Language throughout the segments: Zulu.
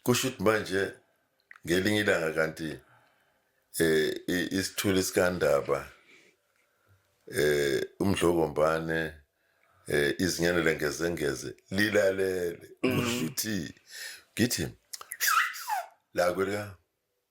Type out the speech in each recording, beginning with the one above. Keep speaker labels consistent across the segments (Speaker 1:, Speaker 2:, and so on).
Speaker 1: kusho ukuthi manje ngelinye ilanga kanti eh isithuli sikandaba eh umdlokombane eh izinyane lengezengeze lilalele kusho ukuthi ngithi la kwelika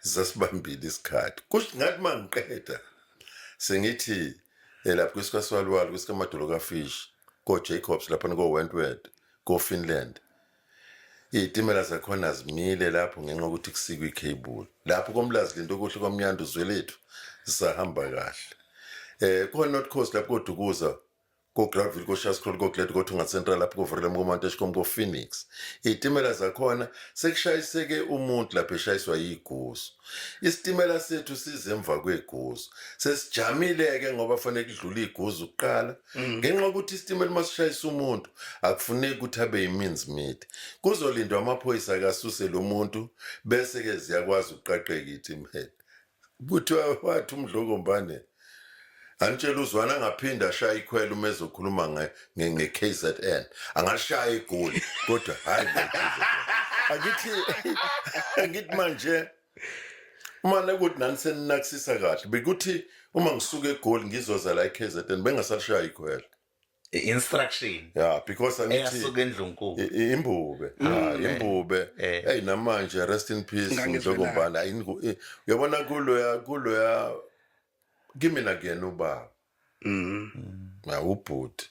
Speaker 1: zasibambile isikhathi kusho ngathi uma ngiqeda sengithi eh, lapho kwisikasiwaliwali kwisikamadolo kafish ko-jacobs laphana ko-wentworth ko-finland iy'timela zakhona zimile lapho ngenxa yokuthi kusikwe ikheyibuli lapho komlazi lento okuhle kwamnyanda uzwelethu zisahamba kahle um ko-north coast lapho kodukuza ko-Graville, ko-Shascroll, ko-Glad, ko-Thunga Central, lapho ko-Vrelem, ko-Manteshcom, ko-Phoenix. Iy'timela zakhona sekushayiseke umuntu lapho eshayiswa yigusu. Isitimela sethu size emva kwegusu. Sesijamile-ke ngoba fanele kudlule iguzu kuqala. Mm. Ngenxa yokuthi isitimela uma sishayisa umuntu akufuneki ukuthi abe yiminzi mide. Kuzolindwa amaphoyisa akasuse lo muntu bese-ke ziyakwazi ukuqaqeka iy'timela. Kuthiwa wathi uMdlokombane anitshela uzwana angaphinde ashaye ikhwela uma ezokhuluma nge- nge- nge-KZN. Angalishaya igoli kodwa hhayi nge-KZN. Angithi angithi manje uma nekuthi nani seninakisisa kahle bekuthi uma ngisuka egoli ngizoza la e-KZN bengasalishaya ikhwela. instruction
Speaker 2: yeah because
Speaker 1: angithi eyasuka endlunkulu i-
Speaker 2: i- imbube Mm.
Speaker 1: Ah, imbube Eh. hey namanje rest in peace Ngangizwe njengombana ayingu- i- uyabona kuloya kuloya kimi nakuyena ubaba Mm. na ubhuti